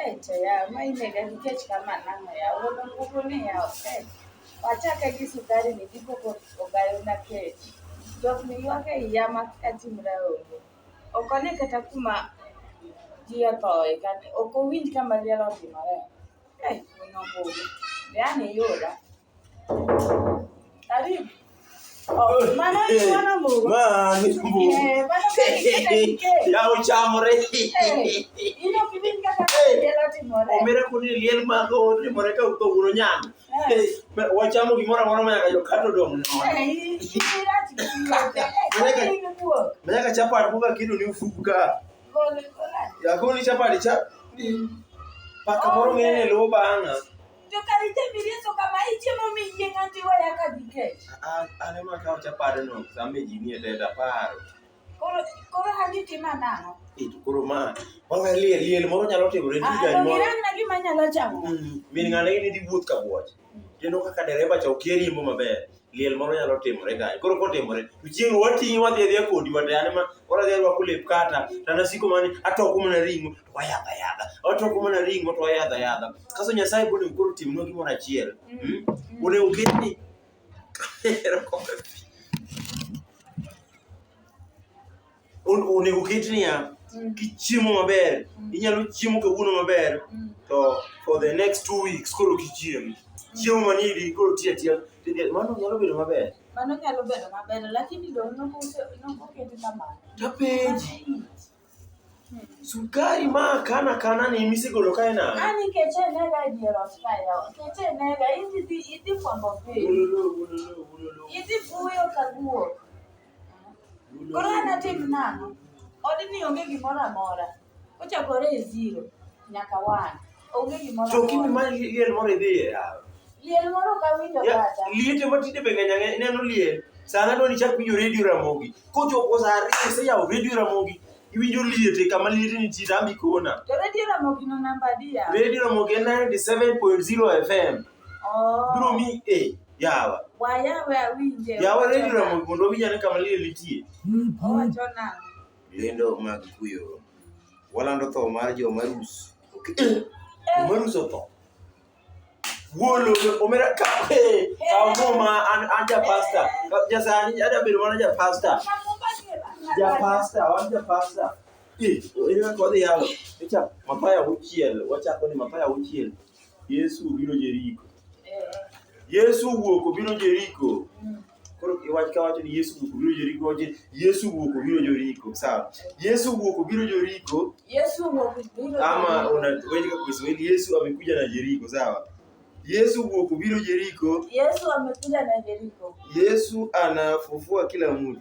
Echa ya ma inega nikech kama nang'o ya wuono nguvu ni ya okay. Wachake gi sukari ni gikoko ogayo na kech. Jok ni ywak e iya ma katimra onge. Ok one kata kuma ji othoe kata ok owinj kama liel otimore. Eh wuono nguvu. Be an iyoda. wachamo gimoro amora manyaka jokato dong' manyaka chapat boka kido ni ufuku ka yakoni chapati cha paka moro ng'ene luwo bang'a To kar itemi rieso kama ichiemo mi yieng' an to iweya ka dhi kech. A- a- Aneno ka wacha paro no same ji nie denda paro. Koro koro an itima nang'o? Eh, to Koro ma wawe liel liel moro nyalo timore Ah, tija to moro. girangna gima anyalo chamo. Mm, Min ng'ane in idhi wuoth ka buoch. Kendo kaka dereba cha okia riembo maber. liel moro nyalo timore kanyo. Koro kotimore, to chieng'no wating'i wadhi adhiya kodi wate, an ema koro adhi arwako lep kata, to an asiko mana ni atoko mana ring'o to wayadho ayadha, atoko mana ring'o to wayadho ayadha. Kaso Nyasaye bende koro timnwa gimoro achiel. Mm. Hmm? Onego oket ni onego ket niya mm. kichiemo maber mm. inyalo chiemo kawuono maber mm. to for the next two weeks koro kichiem chiemo manidi koro tiya tiya mano nyalo bedo maber mano nyalo bedo maber lakini dong nokoketi kamano tapenji sukari ma kana kana ni misegolo kae na ani keche nega diero skaya keche nega idhi idhi kwambo pe idhi buyo kaguo Koro an atim nang'o? Odni onge gimoro amora. Ochakore e zero nyaka one. Onge gimoro To kimi amora. ma liel moro idhi e yawa. Liel moro ok awinjo Ya, kata. Liete ma tinde be ng'eny ang'eny ineno liel. Sana doni chak winjo redio Ramogi. Kochopo sa ariyo iseyawo redio Ramogi. Iwinjo liete kama liete nitie to ambi kona. To redio Ramogi no namba adi yawa? Redio Ramogi en 97.0 FM. Oh. Biro mi e yawa. Wa yawa awinje. Yawa redio na mondo owinj ane kama liel nitie. Owacho nang'o? Lendo mag kuyo. Walando tho mar joma rus. Okay. Eh. Joma rus otho. Wuolo omera ka eh, kawo muma an an ja pasta. Ja sani ada bedo mana ja pasta. Ja pasta, wan ja pasta. Eh, ina kodhi yawa. Echa mapaya uchiel, wachako ni mapaya uchiel. Yesu obiro Jeriko. Yesu owuok obiro Jeriko. Koro iwach ka wacho ni Yesu owuok obiro Jeriko, wacho ni Yesu owuok obiro Jeriko. Sawa. Yesu owuok obiro Jeriko Yesu owuok obiro ama unaweza kwa Kiswahili Yesu amekuja na Jeriko, sawa? Yesu owuok obiro Jeriko. Yesu amekuja na Jeriko. Yesu anafufua kila mtu.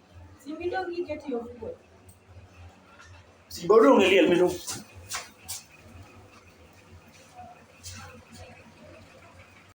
Simbi dong iketi ofuko. Simba odong' e liel mino.